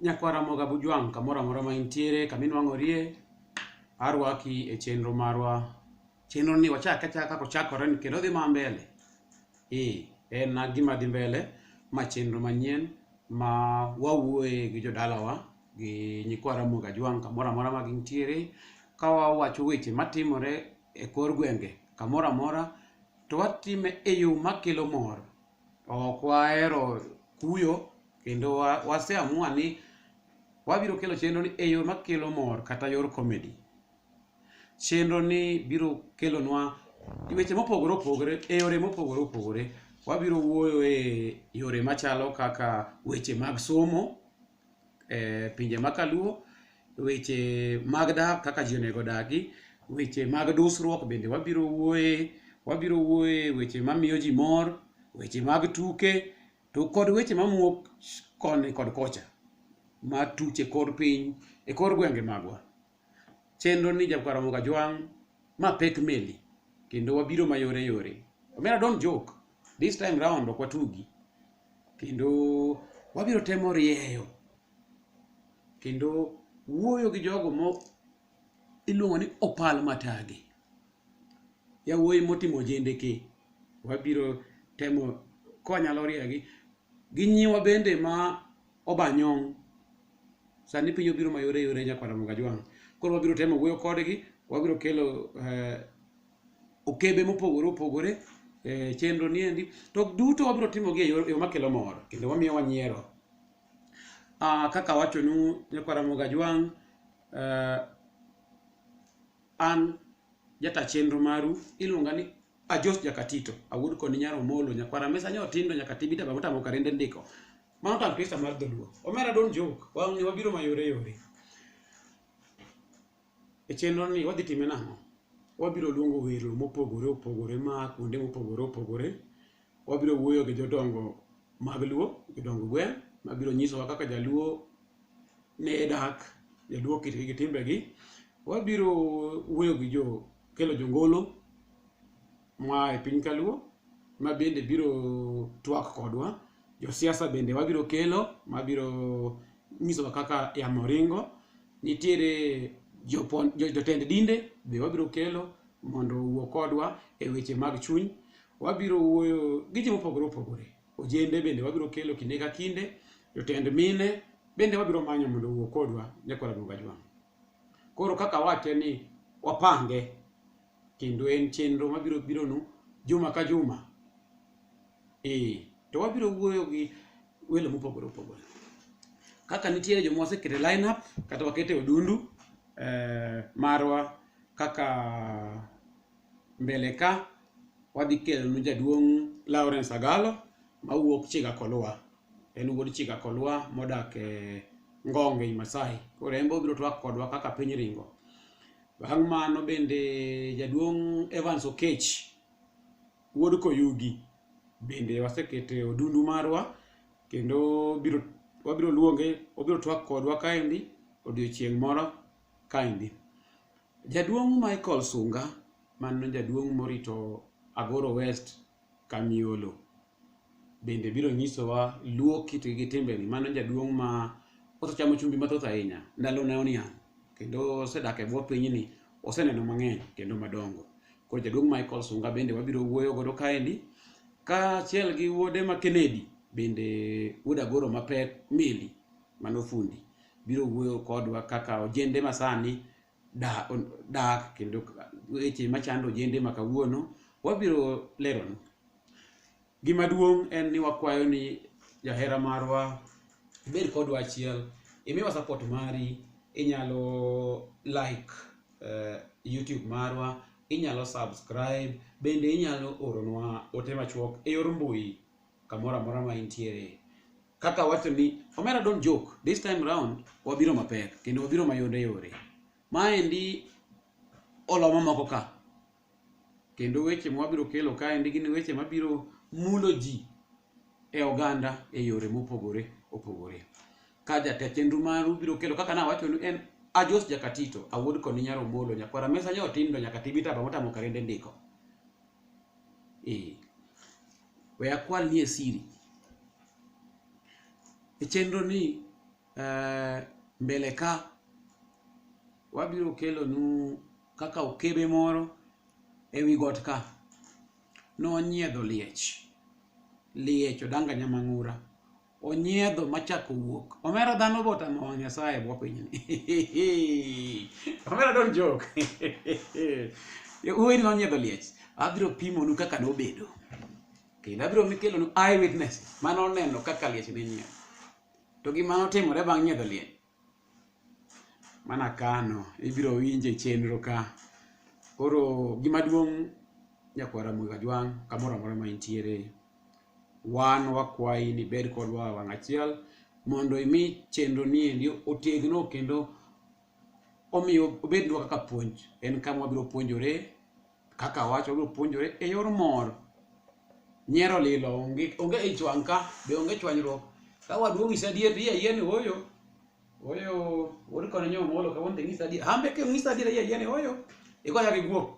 Nyakwa Ramoga Bujwang' kamoro amora ma intiere kama inwang'orie, arwaki e chenro marwa. Chenro ni wachake achaka kaka ochakore ni kendo odhi ma mbele. Ee, en na gima dhi mbele, ma chenro manyien ma wawuoye gi jodalawa gi nyikwa Ramoga Jwang' kamoro amora ma gintiere ka wawacho weche matimore e kor gwenge kamoro amora to watime e yo makelo mor. ok wahero kuyo kendo wa- waseamua ni wabiro kelo chenro ni e yo makelo mor kata yor comedy chenro ni biro kelonwa weche mopogore opogore e yore mopogore opogore wabiro wuoyo e yore machalo kaka weche mag somo e pinje ma kaluo weche mag dak kaka ji onego odagi weche mag dusruok bende wabiro wuoye wabiro wuoye weche mamiyo ji mor weche mag tuke to kod weche mamuok koni kod kocha matuche kor piny e kor gwenge magwa chenro ni Jabuka Ramogi Ajwang' ma pek meli kendo wabiro mayore yore. Omera don't joke. This time round ok watugi. Kendo wabiro temo rieyo kendo wuoyo gi jogo mo iluongo ni opal matagi. Yawuoyi motimo jende ki wabiro temo konyalo riegi gi nyiwa bende ma Obanyong'. Sani piny obiro mayore yore nyakwar Ramogi Ajwang'. Koro wabiro temo wuoyo kodgi, wabiro kelo eh, okebe mopogore opogore e chenro niendi to duto wabiro timogi e yor- e yo makelo mor kendo wamiyo wanyiero Ah, kaka awachonu nyakwara mogajwang eh, an jata chenro maru iluonga ni ajos jakatito awuod koni nyaro molo nyakwara mesa nyo tindo nyaka tibita bamotamo karende ndiko Mano tampista mar dholuo. Omera don't joke. Wang' ni wabiro mayore yore. E chenro ni wadhi time nang'o? Wabiro luongo welo mopogore opogore ma kuonde mopogore opogore. Wabiro wuoyo gi jodongo mag luo, jodongo gweng' ma biro nyisowa kaka jaluo ne dak, jaluo kitgi gi timbegi. Wabiro wuoyo gi jo kelo jongolo mwa e piny kaluo ma bende biro twak kodwa josiasa bende wabiro kelo ma biro nyisowa kaka yamo ringo nitiere jopon- jo- jotend dinde be wabiro kelo mondo owuo kodwa e weche mag chuny wabiro wuoyo gi ji mopogore opogore ojende bende wabiro kelo kinde ka kinde jotend mine bende wabiro manyo mondo owuo kodwa nyakora duoga jwang' koro kaka wache ni wapange kendo en chenro mabiro bironu juma ka juma ee to wabiro wuoyo gi welo mopogore opogore kaka nitiere joma wasekete line up kata wakete odundu eh, marwa kaka mbele ka wadhi kelonu jaduong' Lawrence Agalo mawuok Chiga Kolwa en wuod Chiga Kolwa modak e Ngonge Masai koro en be obiro twak kodwa kaka piny ringo Bang' mano bende jaduong' Evans Okech wuod Koyugi bende wasekete odundu marwa kendo biro wabiro luonge obiro twak kodwa kaendi odiochieng' moro kaendi. Jaduong' Michael Sunga mano jaduong' morito Agoro West Kamiolo. bende biro nyisowa luo kit gi timbeni mano jaduong' ma osechamo chumbi mathoth ahinya ndalo ne oniang' kendo osedak e bwo pinyni oseneno mang'eny kendo madongo koro jaduong' Michael Sunga bende wabiro wuoyo godo kaendi kaachiel gi wuode ma Kennedy bende wuod Agoro mapek Meli mano fundi biro wuoyo kodwa kaka ojende masani da- on- dak kendo ka- weche machando ojende ma kawuono wabiro leronu gima duong' en ni wakwayo ni jahera marwa ibed kodwa achiel imiwa support mari inyalo like eh, youtube marwa inyalo subscribe bende inyalo oronwa ote machuok e yor mbui kamoro amora ma intiere kaka wacho ni omera don't joke this time round wabiro mapek kendo wabiro mayore yore maendi oloma moko ka kendo weche ma wabiro kelo kaendi gin weche mabiro mulo ji e oganda e yore mopogore opogore ka jatend chenro maru biro kelo kaka nawachonu en ajos jakatito awuod koni nyar omolo nyakwara mesa nyotindo nyaka tibitaba motamo karende ndiko ee we akwal nie siri e chenro ni uh, mbele ka wabiro kelonu kaka okebe moro e wi got ka nonyiedho liech liech odanganya mang'ura onyiedho machako wuok omera dhano botamo wang' nyasaye bwa pinyni omera don jok uweri nonyiedho liech abiro pimonu kaka nobedo kendo abiro mikelonu eye witness mane oneno kaka liech ne nyiedho to gima notimore bang' nyiedho liech mana kano ibiro winje chenro ka koro gima duong' nyakwara mwikajwang' kamoro amora ma intiere wan wakwayi ni bed kodwa wang' achiel mondo imi chenro ni endi otegno kendo omiyo obednwa kaka puonj en kama wabiro puonjore kaka wacho gi puonjore e yor mor nyiero lilo onge onge ich wang' ka be onge chwanyruok ka waduong' isa adier iya yeni oyo oyo wori kono nyo molo ka wonde ngisa adier hambe ke ngisa adier iya yeni oyo igoya gi guok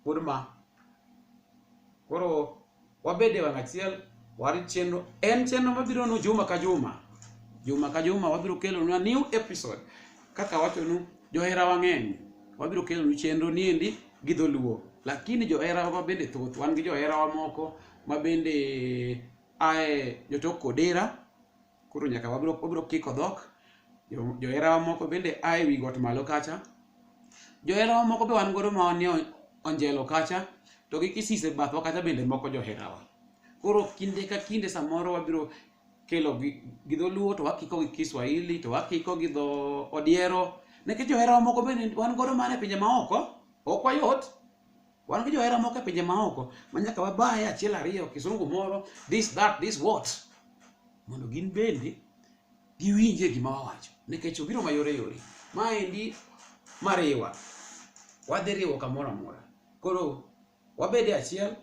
pod ma koro wabed e wang' achiel warit chenro en chenro mabiro nu juma ka juma juma ka juma wabiro kelonwa new episode kaka wachonu johera wang'eny wabiro kelonu chenro niendi gi dholuo lakini johera wa bende thoth wan gi johera wa moko ma bende ae jotok kodera koro nyaka wabro wabro kiko dhok Jo- joherawa moko bende a e wi got malo kacha joherawa moko be wan godo ma wan ni on- onjelo kacha to gi kisise bathwa kacha bende moko joherawa koro kinde ka kinde samoro wabiro kelo gi gi dholuo to wakiko gi kiswahili to wakiko gi dho odiero nikech joherawa moko bende wan godo mana e pinje maoko ok wayot wan gi johera moko e pinje maoko ma nyaka wabaye achiel ariyo kisungu moro this that this what mondo gin bende giwinje gima wawacho nikech obiro mayore yore maendi mariwa wadhi riwo kamoro amora koro wabede achiel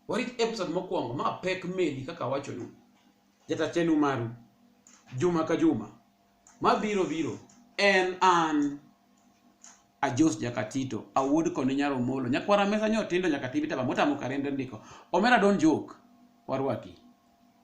warit episode mokwongo ma pek meli kaka awachonu jatachenu maru juma ka juma Mabiro biro en an Ajos Jakatito, awuod koni nyaro molo. Nyakwara mesa nyo tindo nyaka tibita ba motamo karende ndiko. Omera don joke. Warwaki.